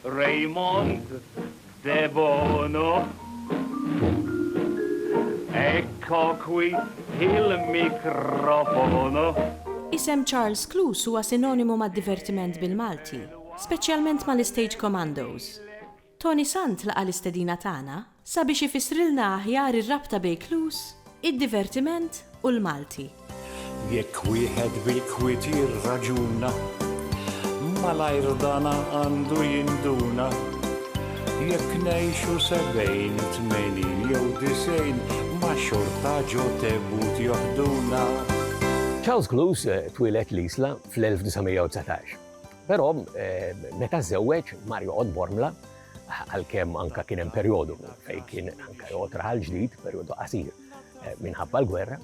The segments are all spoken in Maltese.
Raymond De Bono. Ecco qui il microfono. Isem Charles Cluse huwa sinonimu mad-divertiment bil-Malti, speċjalment mal-istage commandos. Toni Sant laqa' l-istedina tagħna sabiex ifissrilna aħjar ir-rabta bejn Clues, id-divertiment u l-Malti. Jekk wieħed bil-kwiet jirraġuna, malajr dana għandu jinduna, jekk ngħixu sebgħin, tmenin jew disgħin, ma xorta ġo tebut joħduna. Charles Clues twieled l-Isla fl-1919. Però meta żewweġ mar joqgħod Bormla, għalkemm anka kien hemm perjodu fejn kien anka joqgħod raħal ġdid, perjodu qasir eh, minħabba l-gwerra,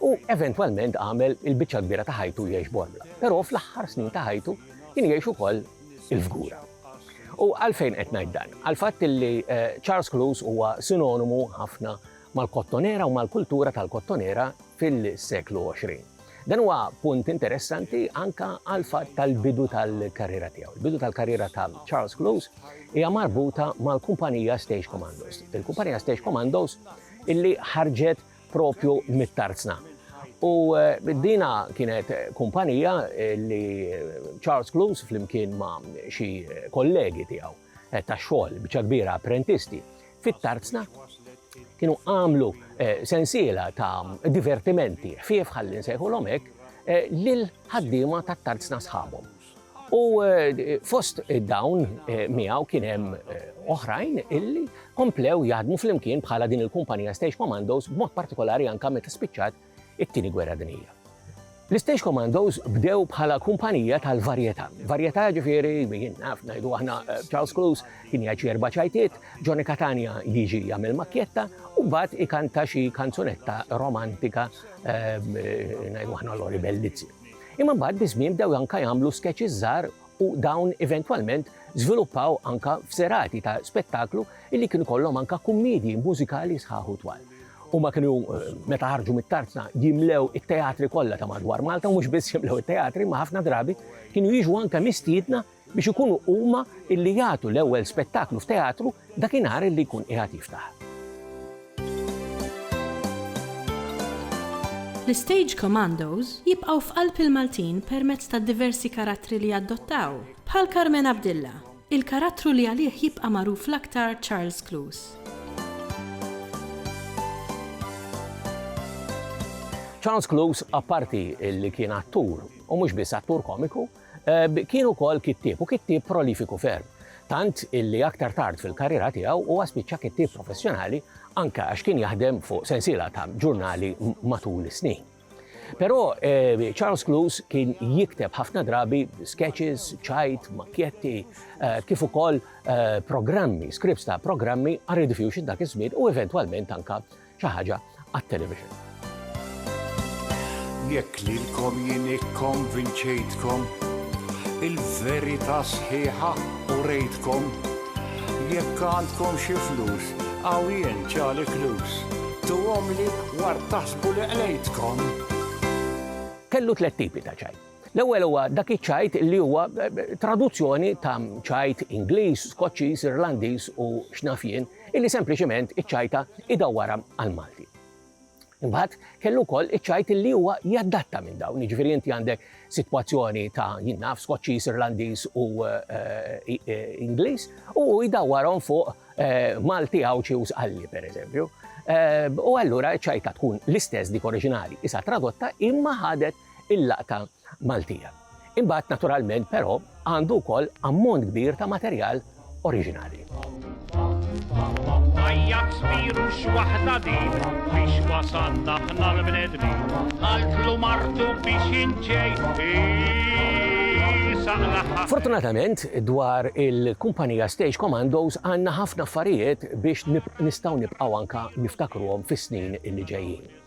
u eventwalment għamel il-biċċa kbira ta' ħajtu jgħix Bormla. Però fl-aħħar snin ta' ħajtu kien jgħix ukoll il-fgura. U għalfejn qed ngħid dan? Għalfatt li eh, Charles Cruise huwa sinonimu ħafna mal-kottonera u mal-kultura tal-kottonera fil-seklu 20. Dan huwa punt interessanti anka għal fatt tal-bidu tal-karriera tiegħu. Il-bidu tal-karriera ta' Charles Close hija marbuta mal-kumpanija Stage Commandos. Il-kumpanija Stage Commandos illi ħarġet propju mit-tarzna. U eh, dina kienet kumpanija eh, li Charles Close flimkien ma' xi kollegi tiegħu eh, ta' xogħol biċa kbira apprentisti Fit-Tarzna kienu għamlu eh, sensiela ta' divertimenti, ħfief ħalli nsejħu l-omek, eh, lil ħaddiema ta' tarzna sħabhom. U eh, fost dawn miegħu kien hemm oħrajn illi komplew jaħdmu flimkien bħala din il-kumpanija Stage Commandos b'mod partikolari anka meta spiċċat it-Tieni Gwerra Dinjija. L-Stage Commandos bdew bħala kumpanija tal-varjetà. Varjetà ġifieri, jien naf ngħidu aħna eh, Charles Cruz kien jgħid erba' ċajtiet, Johnny Catania jiġi jagħmel makkjetta u mbagħad ikanta xi kanzunetta romantika eh, ngħidu aħna Lori Bellizzi. Imma mbagħad biżmien bdew anka jagħmlu sketches żgħar u dawn eventwalment żviluppaw anka f'serati ta' spettaklu illi kienu kollhom anka kummedji mużikali sħaħu twal. Huma kienu meta ħarġu mit-Tarzna jimlew it-teatri kollha ta' madwar Malta u mhux biss jimlew it-teatri imma ħafna drabi kienu jiġu anke mistiedna biex ikunu huma illi jagħtu l-ewwel spettaklu f'teatru dakinhar illi jkun qiegħed jiftaħ. L-Istage Commandos jibqgħu f'qalb il-Maltin permezz tad-diversi karattri li jadottaw, bħal Carmen Abdilla, Il-karattru li għalih jibqa' magħruf l-aktar Charles Close. Charles Close apparti li kien attur, u mhux biss attur komiku, kien ukoll kittieb u kittieb prolifiku ferm. Tant illi aktar tard fil-karriera tiegħu huwa spiċċa kittieb professjonali anke għax kien jaħdem fuq sensiela ta' ġurnali matul is-snin. Però eh, Charles Cluse kien jikteb ħafna drabi sketches, ċajt, makjetti, eh, kif ukoll eh, programmi, scripts ta' programmi għal Rediffusion dak iż-żmien u eventwalment anka xi ħaġa għat-television. Jekk lilkom jien ikkonvinċejtkom il-verità sħiħa u rejtkom jekk għandkom xi flus Hawn jien Charlie Cluse. Tuhomli ward taħsbu li qlejtkom. Kellu tliet tipi ta' ċajt. L-ewwel huwa dak iċ-ċajt li huwa traduzzjoni ta' ċajt Ingliż, Skoċċiż, Irlandiż u x'naf jien, illi sempliċement iċċajta idawwarha għall-Malti. Imbagħad kellu wkoll iċ-ċajt illi huwa jaddatta minn dawn, jiġifieri inti għandek sitwazzjoni ta' jien naf Skoċċiż, Irlandiż u eh, eh, Ingliż u hu jdawwarhom fuq eh, Malti Għawdxi u Sqalli pereżempju. U allura ċajta tkun l-istess dik oriġinali, isa tradotta imma ħadet il-laqta Maltija. Imbagħad naturalment però għandu wkoll ammont kbir ta' materjal oriġinali. Tajjat spiru x'waħda din biex wasalna ħna l-bnedmin. Qaltlu martu biex inġej Fortunatament, dwar il-kumpanija Stage Commandos għanna ħafna affarijiet biex nistgħu nibqgħu anka niftakruhom fis-snin li ġejjin.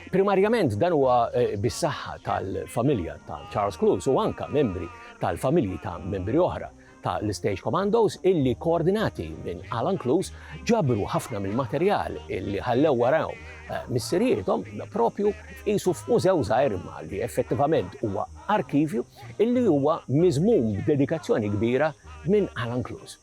Primarjament dan huwa bis-saħħa tal-familja ta' Charles Clouse u anka membri tal-familji ta' membri oħra ta' l-Stage Commandos illi koordinati minn Alan Clues ġabru ħafna mill-materjal illi ħallew warahom eh, missirijiethom propju qisu f'mużew żgħir ma li effettivament huwa arkivju illi huwa miżmum b'dedikazzjoni kbira minn Alan Clues.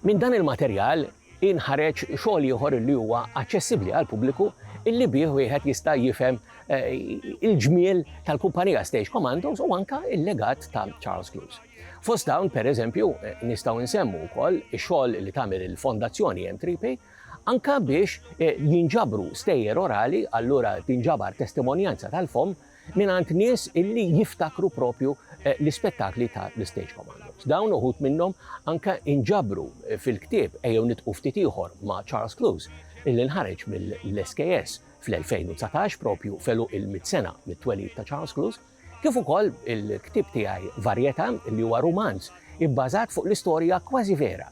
Minn dan il-materjal inħareġ xogħol ieħor li huwa aċċessibbli għall-pubbliku illi bih wieħed jista' jifhem eh, il-ġmiel tal-kumpanija Stage Commandos u anka il-legat ta' Charles Cruise. Fost dawn, per eżempju, eh, nistaw nsemmu wkoll ix-xogħol li tagħmel il-Fondazzjoni M3P anka biex eh, jinġabru stejjer orali, allura tinġabar testimonjanza tal-fom mingħand nies illi jiftakru proprju l-ispettakli ta' The Stage Commandos. Dawn uħud minnhom anke inġabru fil-ktieb Ejjew Nitqu Ftit Ieħor ma' Charles Clowes illi nħareġ mill-SKS fl-2019 proprju f'għeluq il-mitt sena mit-twelid ta' Charles Clowes, kif ukoll il-ktieb tiegħi Varjetà li huwa rumanz ibbażat fuq l-istorja kważi vera